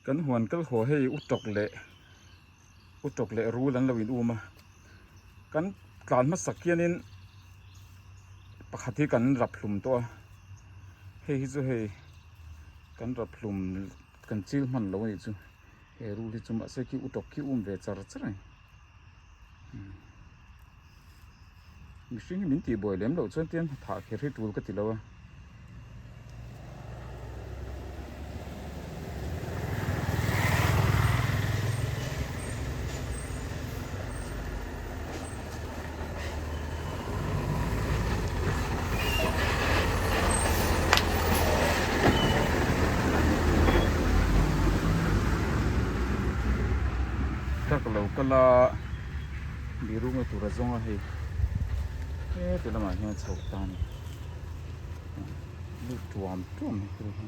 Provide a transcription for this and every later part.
Kan huan kal haw hei u tawk leh u tawk leh rul an lo in um a kan tlan hmasak hian in pakhat hi kan rap hlum tawh a hei hi chu hei kan rap hlum kan chil hman loh a nih chu he rul hi chu mahse khi u tawk khi um ve char char a ni. mihring hi min tih buai lem loh chuan tian thah kher hi tul ka ti lo a tak lo ka la mi runga tura zawnga hei heti lamah hian chho ta ni lut tuam tuam mai thil hi.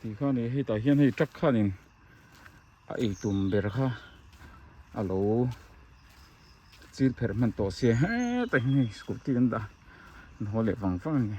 tih kha ni hetah hian hei truck khan in a ei tum ber kha a lo chil pherh hman tawh se hetah hian hei scooty an dah a inhawh leh vang vang a ni.